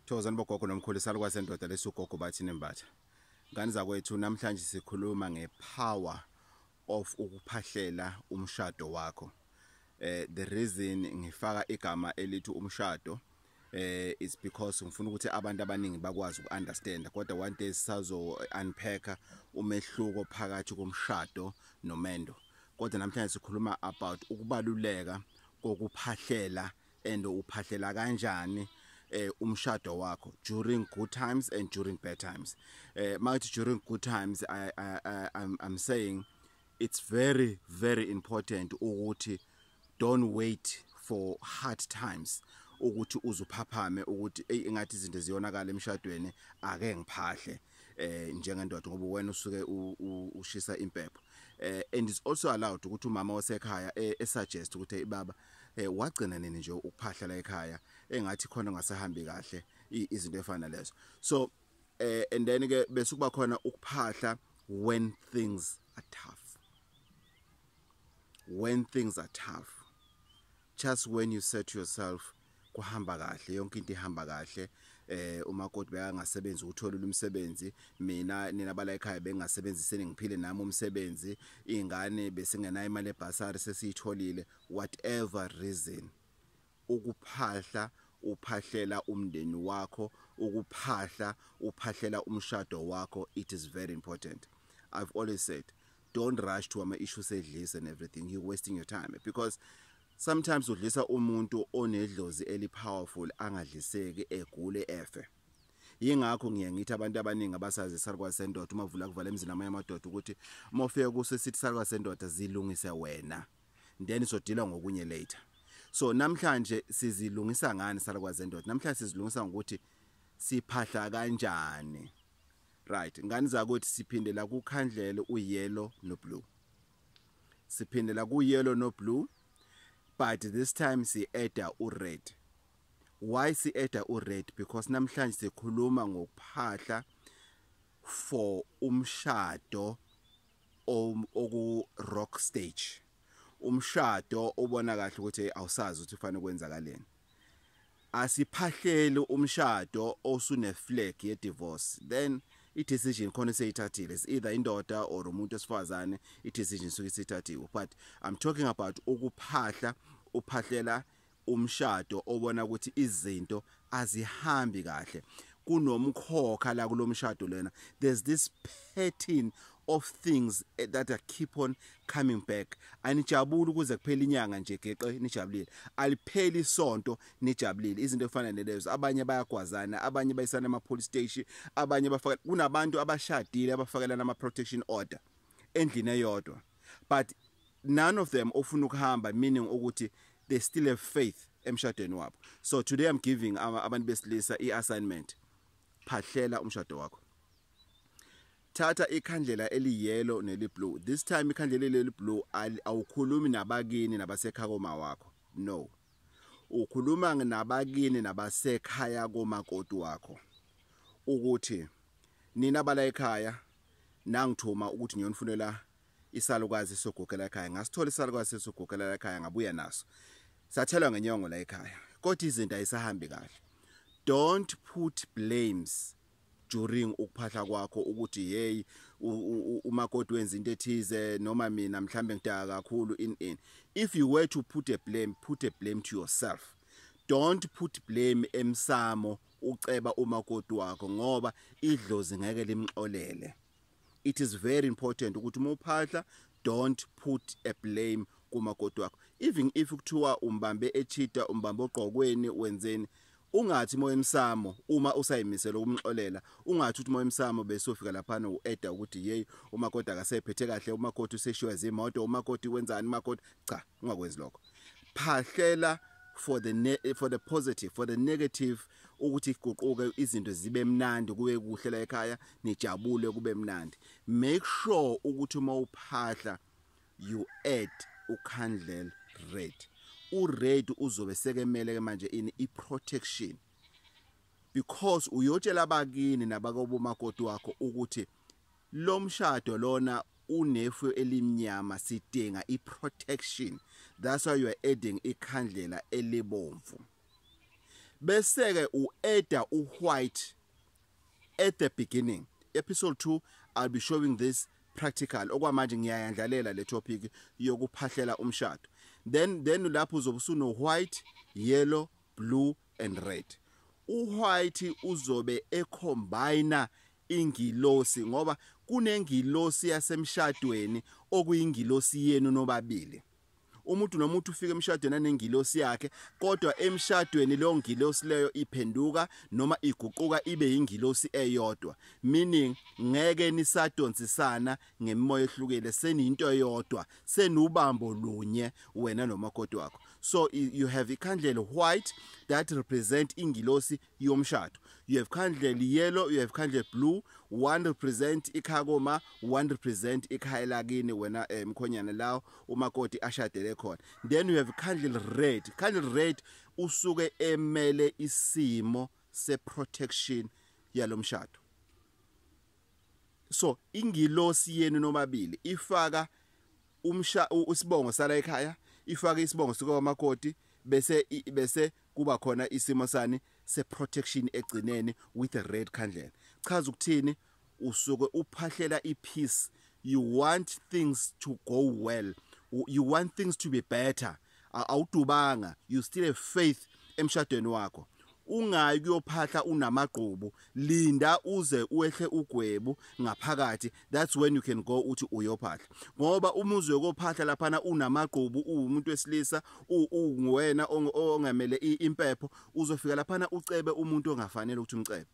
Thokozani bogogo nomkhulu salukwa sendoda lesugogo bathi nembatha. Ngani zakwethu namhlanje sikhuluma ngepower of ukuphahlela umshado wakho. Eh the reason ngifaka igama elithi umshado eh it's because ngifuna ukuthi abantu abaningi bakwazi ukuunderstand kodwa one day sisazo unpack umehluko phakathi komshado nomendo kodwa namhlanje sikhuluma about ukubaluleka kokuphahlela and uphahlela kanjani eh umshado wakho during good times and during bad times eh makathi during good times i i, I I'm, I'm saying it's very very important ukuthi don't wait for hard times ukuthi uzuphaphame ukuthi ey ingathi izinto ziyonakala emshadweni ake ngiphahle eh njengendoda ngoba wena usuke ushisa impepho eh and is also allowed ukuthi umama wasekhaya eh, esuggest ukuthi ibaba eh wagcina nini nje ukuphahla la ekhaya engathi khona ngasahambi kahle izinto efana lezo so eh and then ke bese kuba khona ukuphahla when things are tough when things are tough just when you set yourself kuhamba kahle yonke into ihamba kahle eh umakoti bekangasebenzi uthola umsebenzi mina nina bala ekhaya bengasebenziseni ngiphile nami umsebenzi ingane besingenayo imali ebhasari sesiyitholile whatever reason ukuphahla uphahlela umndeni wakho ukuphahla uphahlela umshado wakho it is very important i've always said don't rush to ama issues edlisa and everything you wasting your time because sometimes udlisa umuntu onedlozi eli powerful angadliseki egule efe yingakho ngiye ngithi abantu abaningi abasazi sarwa sendoda uma vula kuvala emzini amanye amadoda ukuthi uma ufika kuso sithi sarwa sendoda zilungise wena then sodila ngokunye later so namhlanje sizilungisa ngani sarwa sendoda namhlanje sizilungisa ngokuthi siphahla kanjani Right, ngani zakuthi siphinde la ku khandlele u yellow no blue. Siphinde la ku yellow no blue but this time si adder u red. Why si adder u red because namhlanje sikhuluma ngokuphahla for umshado oku rock stage. Umshado ubona kahle ukuthi awusazi ukuthi kufanele kwenzakaleni. asiphahleli umshado osune flag ye divorce then i decision khona seyithathile is either indoda or umuntu esifazane i decision suke sithathiwe but i'm talking about ukuphahla uphahlela umshado obona ukuthi izinto azihambi kahle kunomkhokha la kulomshado lena there's this pattern of things eh, that are keep on coming back anijabuli ukuze kuphele inyanga nje geqe nijabulile alipheli isonto nijabulile izinto efana nelezo abanye bayagwazana abanye bayisana ama police station abanye bafaka kunabantu abashadile abafakelana ama protection order endlini eyodwa but none of them ofuna ukuhamba meaning ukuthi they still have faith emshadweni wabo so today i'm giving abantu besilisa i assignment phahlela umshado wakho thatha ikhandlela eliyellow neliblue this time ikhandlela leliblue awukhulumi nabakini nabasekhaya koma wakho no ukhuluma nabakini nabasekhaya komakoti wakho ukuthi nina bala ekhaya nangithuma ukuthi ngiyonifunela isalukazi sogugela ekhaya ngasithola isalukazi sogugela ekhaya ngabuya naso sathelwa ngenyongo la ekhaya kodwa izinto ayisahambi kahle don't put blames during ukuphahla kwakho ukuthi hey umakoti wenza into ethize noma mina mhlambe ngidaka kakhulu in in if you were to put a blame put a blame to yourself don't put blame emsamo uceba umakoti wakho ngoba idlozi ngeke limxolele it is very important ukuthi uma uphahla don't put a blame kumakoti wakho even if kuthiwa umbambe echita umbambe ogqokweni wenzeni ungathi moya emsamo uma usayimisela ukumxolela ungathi uthi moya emsamo bese ufika lapha no eda ukuthi hey umakoti akasephethe kahle umakoti useshiwa izimoto umakoti wenzani umakoti cha ungakwenzi lokho phahlela for the for the positive for the negative ukuthi kuququke izinto zibe mnandi kube kuhle la ekhaya nijabule kube mnandi make sure ukuthi uma uphahla you add ukhandlela red ured uzobe sekemele ke manje ini iprotection because uyotshela abakini nabakobo makoti wakho ukuthi lo mshado lona unefu elimnyama sidinga iprotection that's why you are adding ikhandlela elibomvu beseke ueda uwhite at the beginning episode 2 i'll be showing this practical okwamanje ngiyayandlalela le topic yokuphahlela umshado then then lapho uzobe usuno white yellow blue and red uwhite uzobe ecombina ingilosi ngoba kunengilosi yasemshadweni okuyingilosi yenu nobabili umuntu nomuntu ufika emshadweni anengilosi yakhe kodwa emshadweni leyo ngilosi leyo iphenduka noma iguquka ibe yingilosi eyodwa meaning ngeke nisadonsisana ngemimoya ehlukile seniyinto eyodwa senubambo lunye wena nomakoti wakho so you have ikhandlela white that represent ingilosi yomshado you have kindly yellow you have kindly blue one represent ikhaya koma one represent ikhaya lakini wena eh, mkhonyana lawo umakoti ashadele khona then you have kindly red kindly red usuke emele isimo se protection yalomshado so ingilosi yenu nomabili ifaka umsha usibongo sala ekhaya ifaka isibongo sika wamakoti bese bese kuba khona isimo sani seprotection egcineni with a red candle chaza ukuthini usuke uphahlela ipeace you want things to go well you want things to be better awudubanga you still have faith emshadweni wakho ungayi kuyophahla unamagqubu linda uze uehle ugwebu ngaphakathi that's when you can go uthi uyophahla ngoba uma uzokophahla laphana unamagqubu uwumuntu wesilisa unguwena ongamele impepho uzofika laphana ucebe umuntu ongafanele ukuthi umcebe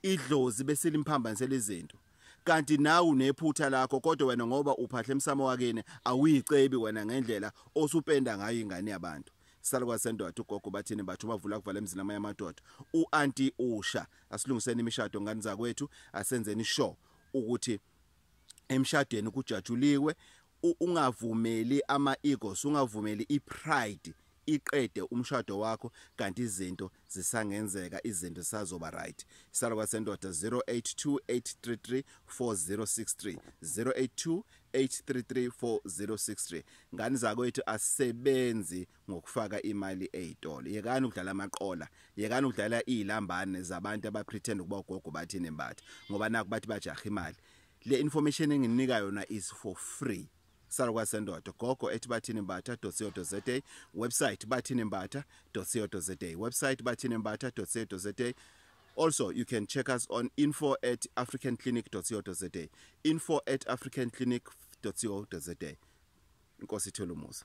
idlozi bese limphambanisela izinto kanti nawe unephutha lakho kodwa wena ngoba uphahle emsamo wakini awuyicebi wena ngendlela osupenda ngayo ingane yabantu salukwa sendoda ugogo bathini bathu bavula kuvala emzini amanye amadoda uanti usha asilungiseni imishado ngani zakwethu asenzeni sure ukuthi emshadweni kujatshuliwe ungavumeli ama egos ungavumeli i pride iqede umshado wakho kanti izinto zisangenzeka izinto sazoba right isalo kwasendoda 0828334063 0828334063 ngani zakwethu asebenzi ngokufaka imali ezitolo yekani ukudlala amaqola yekani ukudlala izilambane zabantu abapretend ukuba ugogo bathini embatha ngoba naku bathi bajaha imali le information engininika yona is for free salukwa sendoda gogo ethi bathini mbatha .co.za website bathini mbatha .co.za website bathini mbatha .co.za also you can check us on info at africanclinic.co.za info at africanclinic.co.za inkosi ithole umusa